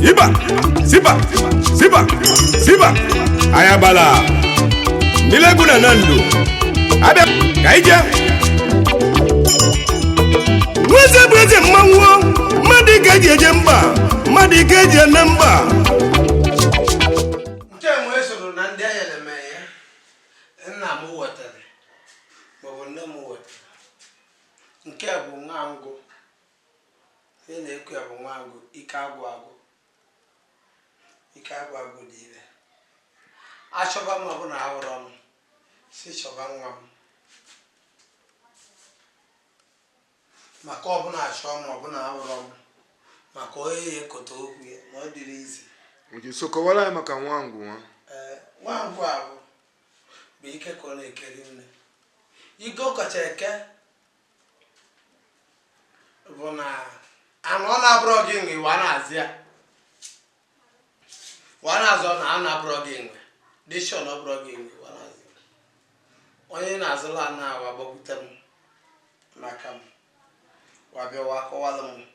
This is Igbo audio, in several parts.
Iba, ziba, ziba, ziba, ayabala. Milegu na nandu. Abịa, ka anyị jee. Nweze bụ eze mmanwụ, ma dike eji eje mba, ma dike eji eme mba. nke nwe soro na ndị enyere m ya nna m wetara maọbụ nne m wetara nke a bụ nwangwu ihe na-ekwu ya bụ nwangwu ike agwụ agwụ ike agwụ agwụ dị ire achọba m ọ bụ na ahụrụ m si chọba nwa m Maka ọ bụ na achọọ m ọ bụ na ahụrọ m maka onye ya ekota okwu ya na ọ dịrọ easy. Okay, so kọwara anyị maka nwangwu nwa. Ee, nwangwu a bụ bụ ike ka ọ na-eke rinne. Ike ọ kacha eke bụ na ana ọ na-abụrọ gị nwe wa na-azọ ya. wa na-azọ ana na-abụrọ gị nwe dị sure na ọ bụrọ gị nwe wa na-azọ onye na-azọ ala na wa gbakwute m maka m wa bịawa akọwala m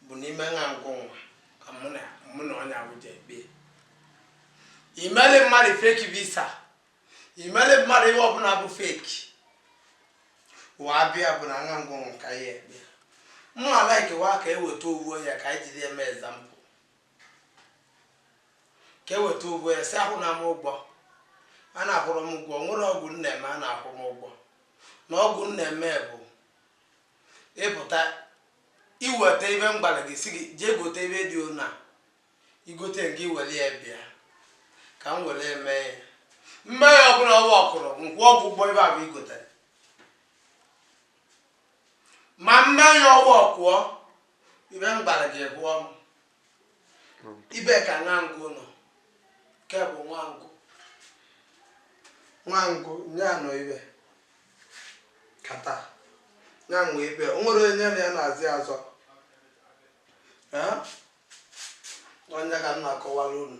bụ n'ime nwangwu nwa ka mụ na mụ na onye ahụ ja ekpe i meli mmadụ fake visa i meli mmadụ ihe ọbụla bụ fake wa bịa bụ na nwangwu nwa ka ya ekpe mụ a-like wa ka e weta ovu onye ka anyị jiri eme example ka e weta ovu onye sị akwụna m ụgwọ a na-akwụrọ m ụgwọ nwere ọgwụ m na-eme a na-akwụ m ụgwọ na ọgwụ m na-eme bụ ị buta i weta ive m gwara gị sị gị jee gote ive dị ona i gote gị ewere ya bịa ka m were mee ya m mee ya ọ bụrụ na ọ workụrụ nkwụ ọgwụ ụgwọ ive ahụ i gotere ma m mee ya ọ workụọ ive m gwara gị egwu ọnụ ive ka nwangwu nọ nke bụ nwangwu nwangwu nye anọ ibe kata ya nwe ibe o nwere onye na ya na-azị azọ ọ ya ka m na-akọwara unu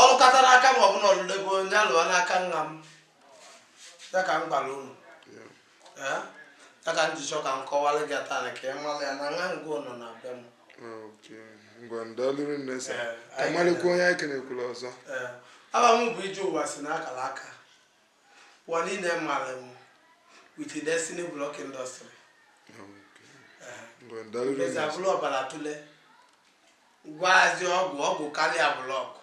ọ lụkata n'aka m ọ bụ na ọ lụlego onye alụwa n'aka nna m ya ka m gwara unu ya ka m ji chọ ka m kọwara gị taa ka ị mara ya na nwangwu nọ na be m ngwa daalụ rinne sir ka marịkwa onye anyị kenekwula ọzọ ava m bụ ije ụwa si n'akara aka ụwa niile mara m with destiny block industry Eziagụlụ ọbara tụlee Gwazi ọgwụ ọgwụ karịa blọkụ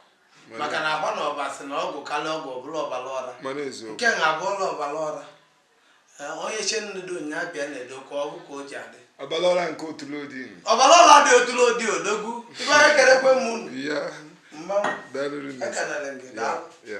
maka na agba na ọba sị na ọgwụ karịa ọgwụ ọbụla ọbara ọra mana eziokwu nke na abụọla ọbara ọra Ee, onye che nnedo nya bịa na-edo ka ọgwụ ka o ji adị ọbara ọra nke otule odini ọbara ọra dị otụrụ odi odogwu ibe anyị ekelekwe m unu ya mmanwụ daalụ ekelere m gị daalụ ya